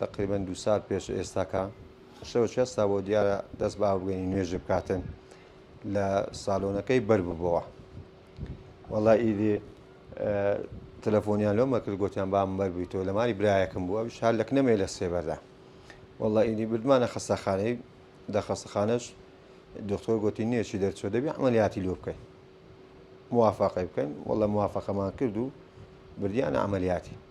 تەقریبەن دوو سات پێش ئێستاکە شەوە چێستا بۆ دیارە دەست بە ئاوبگەنی نوێژێ بکاتن لە ساالۆنەکەی بەرببەوە وەڵا ئیدی تەلەفۆنیان لۆمە کرد گوتیان بام بەربیتەوە لە ماری برایەکم بووە شار لەک نەمێ لە سێبەردا وەڵا ئیدی بردمانە خەستەخانەی دە خەستەخانەش دکتۆر گوتی نوێشی دەرچوە دەبی عملیاتی لۆ بکەین موافقی بکەین وەڵە موافقەمان کرد و بردیان عملیاتی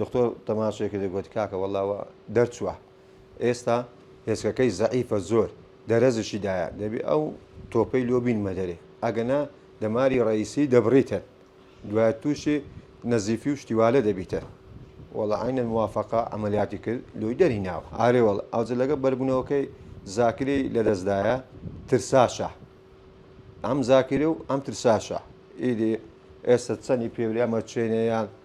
دکتۆر تەماشای کردی گۆتی کاکە وەڵا وا دەرچووە ئێستا هێچکەکەی زەعیفە زۆر دەرەزشی دایە دەبێ ئەو تۆپەی لۆ بینمە دەرێ ئەگەنا دەماری ڕئیسی دەبڕیتن دوای تووشی نەزیفی و شتیوالە دەبیتە وەڵا عینە موافقە ئەمەلیاتی کرد لۆی دەری ناوە ئارێ وەڵ ئەوجە لەگە بەربوونەوەکەی زاکری لەدەستدایە ترساشە ئەم زاکری و ئەم ترساشە ئیدی ئێستا چەنی پێوری ئەمە چێنەیان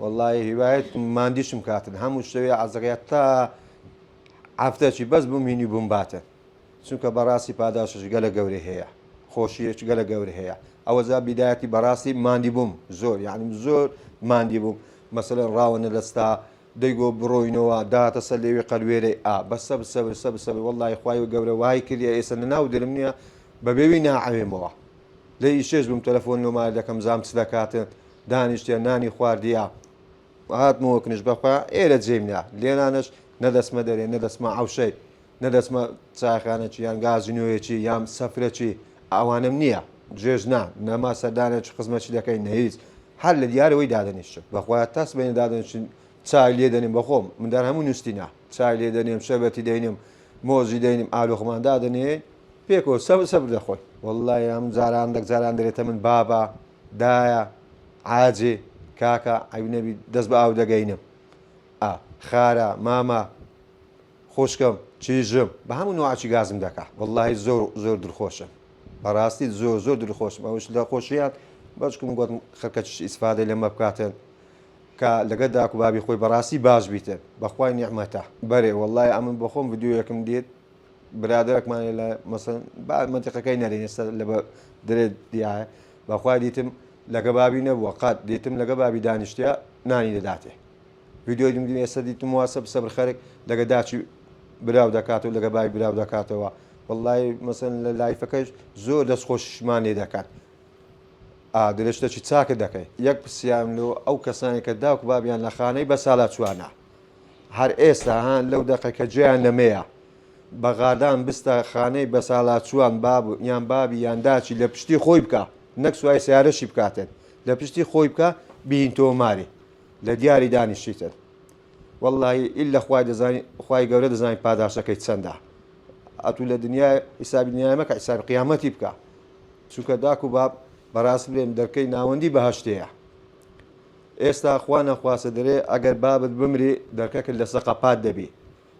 وەڵای هیوایت ماندیشم کاتن هەموو شتەوێ عزڕە تا ئافتەچی بەس بمینی بووم باتن چونکە بەڕاستی پاداشش گەلە گەورە هەیە خۆشیەک گەلە گەورە هەیە ئەوە زا بیدایەتی بەڕاستی ماندی بووم زۆر یاعنیم زۆر ماندی بووم مەسەر ڕاوەنە لەستا دەیگۆ بڕۆینەوە داتە سەر لێوی قەلوێرەی ئا بە سەب سەبر سەب سەبر وەڵی خخوای و گەورە وای کردە ئێستا لە ناو درم نییە بە بێوی ناعەوێمەوە لە ئیشێش بووم تەلەفۆن لۆمار دەکەم زام چ دەکاتن دانیشتیە نانی خواردیە و هاتمەوە کنش بەخوا ئێرە جێم نا لێرانەش نەدەچمە دەرێ نەدەچمە عەوشەی نەدەچمە چایخانەکی یان گازینۆیەکی یان سەفرەکی ئەوانەم نییە جێژ نا نەما سەردانێکی خزمەکی دەکەین نە هیچ هەر لە دیارەوەی دادەنیشتم بەخوا تا سبەینێ دادەنیشتین چای لێ دەنێم بەخۆم مندار هەموو نووسینە چای لێ دەنێم شەربەتی دەینم مۆزی دەینم ئالۆخمان دادەنێ پێکەوە سەبر سەبر دەخۆین واللە یام جاران دەک جاران دەرێتە من بابە دایە عاجێ کاکە عەیب نەبی دەست بە ئاو دەگەینم ئا خارە مامە خوشکم چیژم بە هەموو نوعاچی گازم دەکا واللهی زۆر زۆر دلخۆشم بەڕاستی زۆر زۆر دلخۆشم ئەوش لە خۆشیان بەچکم گوتم خەکە چش ئیسفادە لەمە بکاتن کە لەگە داکو بابی خۆی بەڕاستی باش بیتن بەخوای نیعممەتە بەرێ وەڵای ئەمن بەخۆم بدوویەکم دێت برادەرەکمان هەیە لە مەسەن با مەنتیقەکەی نەرێن ئێستا لە درێت دیایە بەخوا دیتم لەگە بابی نەبووە قات دیتم لەگە بابی دانیشتە نانی دەداتێ ویددیوی دم ئێستا دیتم واسە سەبر خەرک لەگە داچی براو دەکات و لەگە بای براو دەکاتەوە واللهی مەسن لە لایفەکەش زۆر دەست خۆشمان لێ دەکات درێژتەکی چاکە دەکەی یەک پرسیام لۆ ئەو کەسانی کە داوک بابیان لە خانەی بە سالا چوانە هەر ئێستا ها لەو دەقە کە جێیان لە مێیە. بە غادان بستە خانەی بەسالاچووان باب یان بابی یان داچی لە پشتی خۆی بکە نەک سوای سیارەشی بکاتێن لە پشتی خۆی بکە بین تۆماری لە دیاری دانیشیتن واللهی ئیل لە خوای دەزانین خوای گەورە دەزانین پاداشەکەی چەندە ئەتوو لە دنیای حیسابی دنیای مەکە حیسابی قیامەتی بکە چونکە داک و باب بەڕاست بێن دەرکەی ناوەندی بەهشتەیە ئێستا خوا نەخواستە دەرێ ئەگەر بابت بمری دەرکەکت لەسە قەپات دەبی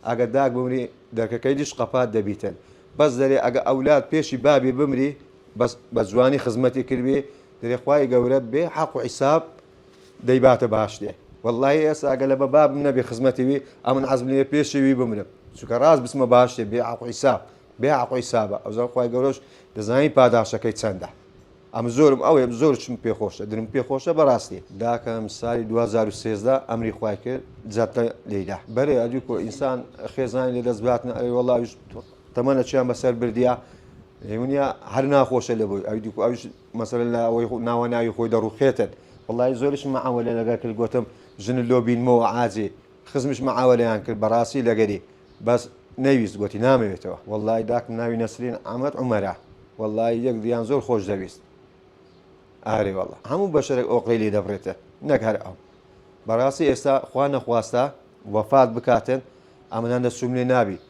ئەگەر داک بمری دەرکەکەی دیش قەپات دەبیتن بەس دەرێ ئەگە ئەولاد پێشی بابی بمری بەس بە جوانی خزمەتی کردبی دەرێ خوای گەورە بێ حەق و حیساب دەیباتە باشتێ واللهی ئێستا ئەگە لە بە بابم نەبێ خزمەتی وی ئەمن عەزم لێ پێشی وی بمرم چونکە ڕاست بچمە باشتێ بێ حەق و حیساب بێ حەق و حیسابە ئەوزا خوای گەورەش دەزانی پاداشەکەی چەندە ئەم زۆرم ئەوێم زۆرچم پێ خۆشە درم پێ خۆشە بەڕاستی داکەم سالی 2013 ئەمری خوای کرد جاتە لێدا بەرێ ئەدی کۆ ئینسان خێزانی لە دەست باتن ئەوی وەڵاویش تەمەە چیان بەسەر بردە منیا هەر ناخۆشە لە بۆی ئەوی دیکو ئەوش مەسەر لە ئەوەی ناوە ناوی خۆی دەڕوخێتن وڵی زۆرش مەعەوە لە لەگەر کرد گوتم ژن لۆ بینمەوە عاجێ خزمش معاوەلەیان کرد بەڕاستی لەگەری بەس نەیویست گۆتی نامەوێتەوە وەڵای داکم ناوی نەسرین عەمەد عومەرە وەڵای یەک دیان زۆر خۆش دەویست ئارێ وەڵا هەموو بەشەرێک ئۆقرەی لێ دەبڕێتە نەک هەر ئەو بەڕاستی ئێستا خوا نەخواستە وەفات بکاتن ئەمەدان دەسوم لێ نابی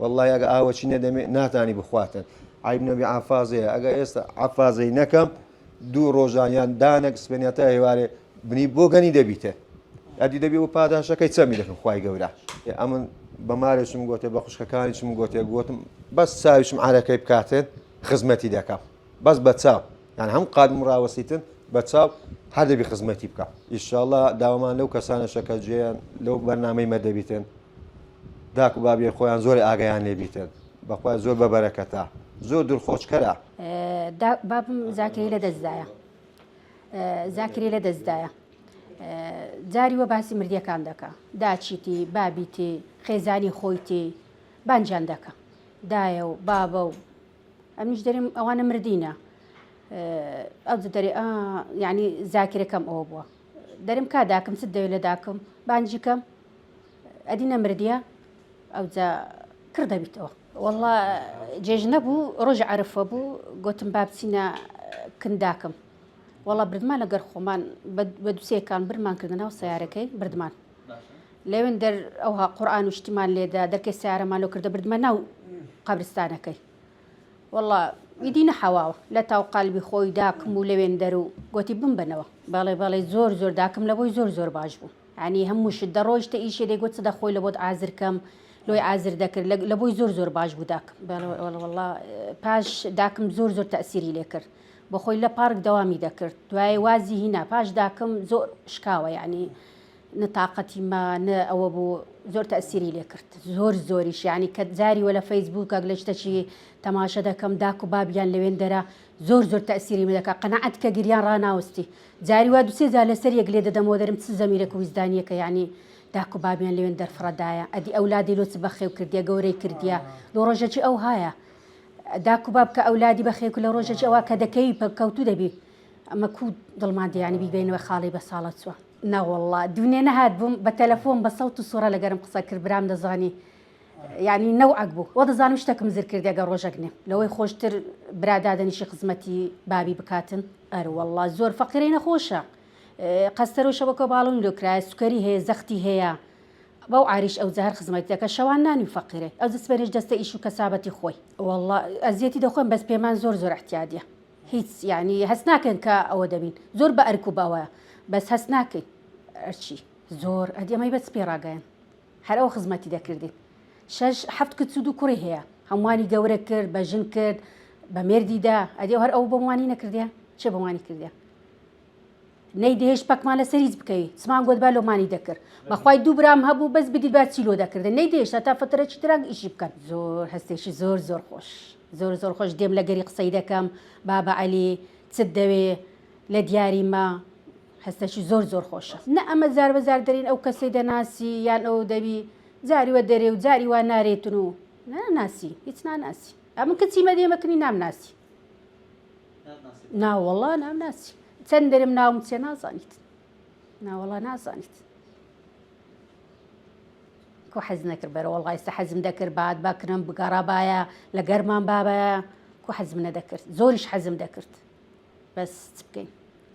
وەڵڵاهی ئەگە ئاوەچی نەدەمێ ناتانی بخواتن عیب نەبی عەفازەیە ئەگە ئێستا عەفازەی نەکەم دوو ڕۆژان یان دانەک سپێنیا تا هێوارێ بنی بۆ گەنی دەبیتە ئەدی دەبی و پاداشەکەی چەمی دەکەم خی گەورە ئەمن بەمارێکم گوتێ بە خوشکەکانیشم گوتێ گوتم بەس چاویشم عارەکەی بکاتن خزمەتی دەکەم بەس بە چاو یان هەم قادم ڕاوەسیتن بە چاو هەردەبی خزمەتی بکە ئیشاءله داوامان لەو کەسانە شەکەجێیان لەو بەرنمەی مەدەبیتن داک و بابیان خۆیان زۆر ئاگایان لێ بیتن بەخوای زۆر بە بەرەکەتە زۆر دلخۆشکەرە. دا بابم زاکری لە دەستدایە زاکری لە دەستدایە جاری وە باسی مردیەکان دەکە داچیتی بابیتی خێزانی خۆیتی بانجان دەکە دایە و بابە و ئەمیش دەریم ئەوانە مردینە ئەو دەری یعنی زاکرەکەم ئەوە بووە دەرم کا داکم چ دەوێت لە داکم بانجیکەم ئەدی نەمردیە ئەوجا کڕ دەبیتەوە. وەڵا جێژنە بوو ڕۆژی عەرفە بوو گۆتم با بچینە کن داکم وەڵا بردمان لەگەر خۆمان بە دوسێکان برمان کردە ناو سەیارەکەی بردمان لەوێن دەر ئەوها قورئان و شتیمان لێدا دەرکەی سیارەمان لۆ کردە بردمە ناو قەبرستانەکەی وەڵا ئیدی نەحەواوە لە تاو قەلبی خۆی داکم و لەوێن دەر و گۆتی بمبەنەوە بەڵێ بەڵێ زۆر زۆر داکم لەبۆی زۆر زۆر باش بوو یانی هەموو شت دەڕۆیشتە ئیشێ دەیگۆت چ دەخۆی لە بۆت ئازر کەم لۆی ئازر دەکرد لە بۆی زۆر زۆر باش بوو داکم بەڵڵە پاش داکم زۆر زۆر تەسیری لێ کرد بە خۆی لە پارک دەوامی دەکرد دوای وازی هینا پاش داکم زۆر شکاوە یعنی نتاقەتی ما نە ئەوە بوو زۆر تەسیری لێ کرد زۆر زۆریش یعنی کە جاری وە لە فەیسبووکەک لە شتەچی تەماشە دەکەم داک و بابیان لەوێن دەرە زۆر زۆر تەئسیریم دەکا قەناعەت بکە گریان ڕاناوستی جاری وا دوسێ جار لەسەر یەک لێ دەدەمەوە دەرم چ زەمیرەک و ویژدانیەکە یانی داک و بابیان لەوێن دەرفڕەدایە ئەدی ئەولادی لۆ چ بەخێو کردیە گەورەی کردیە لۆ ڕۆژەکی ئەوهایە داک و باب کە ئەولادی بەخێو کرد لە ڕۆژەکی ئەوا کە دەکەوی پەککەوتوو دەبی ئەمە کو دڵمان دەیانی بیبەینەوە خاڵی بە ساڵە چوە نەوەڵڵا دوونێ نەهات بووم بە تەلەفۆن بە سەوت و سوڕە لەگەرم قسە کرد برام دەزانی یانی نەوعەک بوو وە دەزانم شتەکم زر کردیە گە ڕۆژەک نێ لەوەی خۆشتر برا دادەنیشی خزمەتی بابی بکاتن ئەر وەڵا زۆر فەقیرەی نەخۆشە قەستەرۆ شەوەکە باڵون لۆ کرایە سوکەری هەیە زەختی هەیە بەو عریش ئەو جەهر خزمەتی دەکە شەوان نانی فەقیرێ ئەو جسبەرێش دەستە ئیش و کەسابەتی خۆی وەڵا ئەزیەتی دەخۆن بەس پێمان زۆر زۆر احتیادیە هیچ یعنی هەست ناکەن کە ئەوە دەبین زۆر بە ئەرک و بەوە بەس هەست ناکەین ئەرچی زۆر ئەدی ئەمەی بەس پێ ڕاگەیان هەر ئەو خزمەتی دەکردین. شەش حەفت کچ و دوو کوڕی هەیە. هەمووانی گەورە کرد، بە ژن کرد، بە مێردی دا. ئەدی هەر ئەو بۆم وانی نەکردیە؟ چێ بۆم وانی کردیە؟ نەیدەهێشت پەکمان لەسەر هیچ بکەوی. چمان گۆت با لۆمانی دەکرد. بەخوای دوو برام هەبوو بەس بدیت با چی لۆ دەکردن. نەیدەهێشت هەتا فترەکی تران ئیشی بکەن. زۆر هەستێکی زۆر زۆر خۆش. زۆر زۆر خۆش دێم لەگەری قسەی دەکەم. بابە عەلی، چت دەوێ لە دیاری مە؟ هەستەکی زۆر زۆر خۆشە. نە ئەمە جار بە جار دەرین ئەو کەسەی دەناسی یان ئەو دەبی جاری وە دەرێ و جاری وا نارێتن و ناناسی هیچ ناناسی ئەمن کچی مەدێ مەکنی نامناسی ناوەڵا نامناسی چەند دەرم ناوم چێ نازانیت ناوەڵا نازانیت کو حەز نەکرد بەرە وڵایستا حەزم دەکرد بات باکنم بگەڕابایە لە گەرمان بابە کو حەزم نەدەکرد زۆریش حەزم دەکرد بەس چ بکەین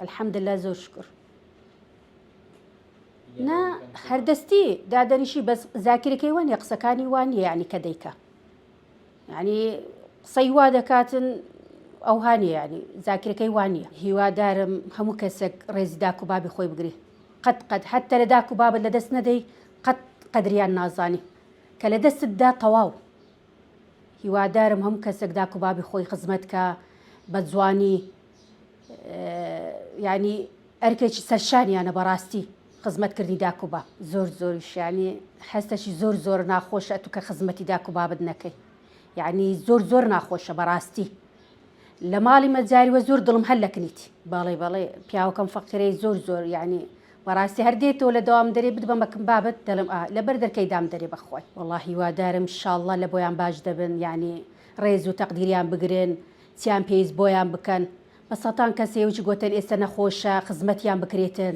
الحمدللە زۆر شکر نا هەردەستی دادەنیشی بەس زاکرەکەی وانە قسەکانی وانە یعنی کە دەیکە ینی قسەی وا دەکاتن ئەو هاانی ینی زاکرەکەی وانە هیوادارم هەموو کەسێک ڕێزی داک و بابی خۆی بگری قەت قەت حتە لە داک و بابت لە دەست نەدەی قەت قەدریان نازانی کە لە دەستتدا تەواو هیوادارم هەموو کەسێک داک و بابی خۆی خزمەت کا بە جوانی ینی ئەرکێکی سەرشانیانە بەڕاستی خزمەت کردی داک و باب زۆر زۆریشیانی حستەشی زۆر زۆر ناخۆشە تو کە خزمەتی داک و بابت نەکەی یعنی زۆر زۆر ناخۆشە بەڕاستی لە ماڵی مە جاری وە زۆر دڵم هەر لە کنیتی باڵێ باڵێ پیاوەکەم فەقیرەی زۆر زۆر یعنی بەڕاستی هەر دێتەوە لە دەوام دەرێ بت بە مەکم بابەت دەڵم ئا لەبەر دەرکەی دام دەرێ بەخوای وەڵا هیوادارم شاڵڵە لە بۆیان باش دەبن یعنی ڕێز و تەقدیریان بگرن چیان پێویست بۆیان بکەن بە سەتان کەسێوچ گۆتن ئێستا نەخۆشە خزمەتیان بکرێتن